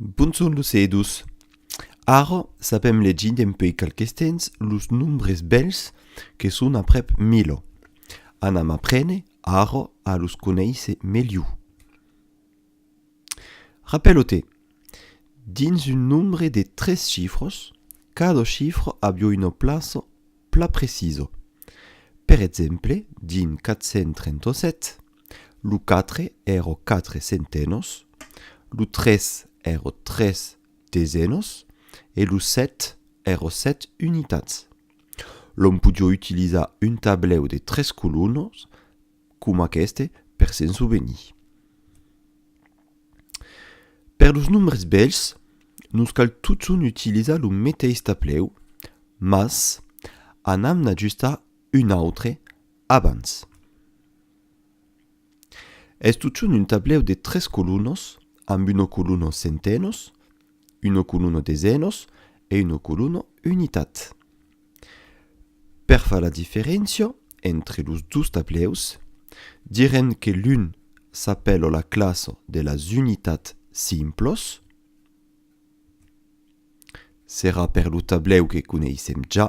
Bonson los edus! Ara sapèm legir dempuèi qualques temps los nombres bèls que son aprèp milo. Anam aprene ara a los conéisser melhor. Rapèlo-te, dins un nombre de tres chifras, cada chifra aviá una plaça plan precisa. Per exemple, dins 437, Lo quatre èrò quatre centenòs, lo tres èrò tres desenòs e lo set èrò set unitats. L'òm podió utilizar un tablèu de tres colonhs coma aqueste per se'n sovenir. Per los nombres bèls, nos cal totson utilizar lo meteis tablèu, mas anam n'ajustar un autre Abans. Es totjorn un tablèu de tres colunos amb un ocoluno centenos, un ocoluno desenos e un ocoluno unitat. Per far la diferéncia entre los dos tablèus, direm que l'un s'apèla la classa de las unitats simplas, serà per lo tablèu que coneissèm ja,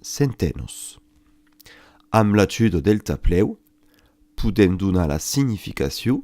Sentenos. Amb l'ajuda del taplèu podèm donar la significacion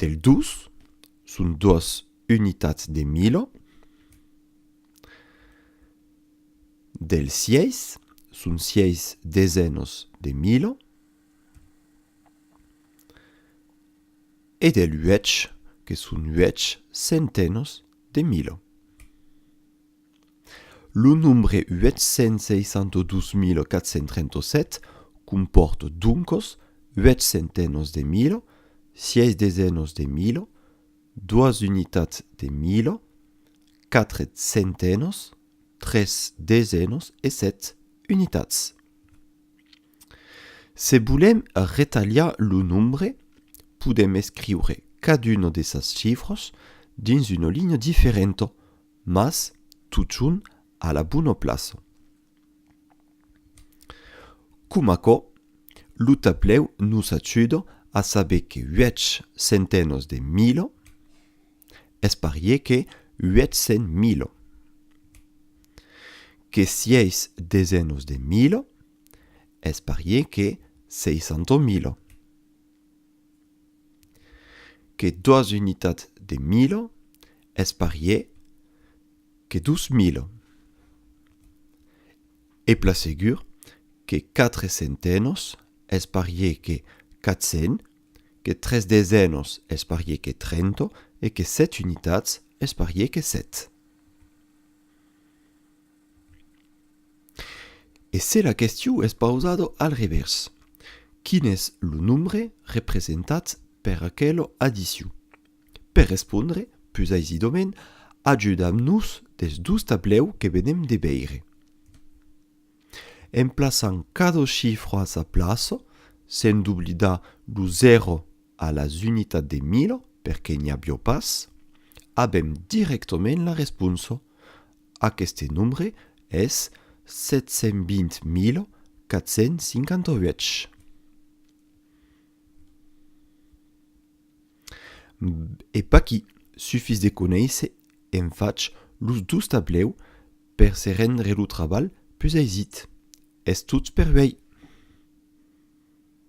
del dos, son doas unitats de mila, del sièis, son sièis desenos de mila, e del uèch, que son uèch sentenos de mila. Lo nombre 862437 compòrt doncos uèch centenòs de mila, sièis desenòs de mila, doas unitats de mila, quatre centenòs, tres desenòs e set unitats. Se volèm retalhar lo nombre, podèm escriure caduna de sas chifras dins una linha diferenta, Mas totjorn a la bona plaça. Com aquò, lo tablèu nos ajuda a saber que uèch centenas de mila es parier que uèch cent mila, que sièis desenas de mila es parier que seisanta mila. que doas unitats de mila es parier que dos mila e pla segur que quatre centenòs es parier que quat cents que tres desenòs es parier que trenta e que set unitats es parier que set E se la question es pausada al revèrs, quin es lo nombre representat per aquela addition? Per respondre pus aisidament, ajudam-nos dels dos tablèus que venem de veire. En plaçant cada chifra a sa plaça, sen doblidar lo 0 a las unitats de mila, perque n'i aviá pas, avèm dirèctament la responsa. Aqueste nombre es 720458. E paquí sufís de conéisser en fach los dos tablèu per se rendre lo trabalh pus aisit. Es tot per uèi!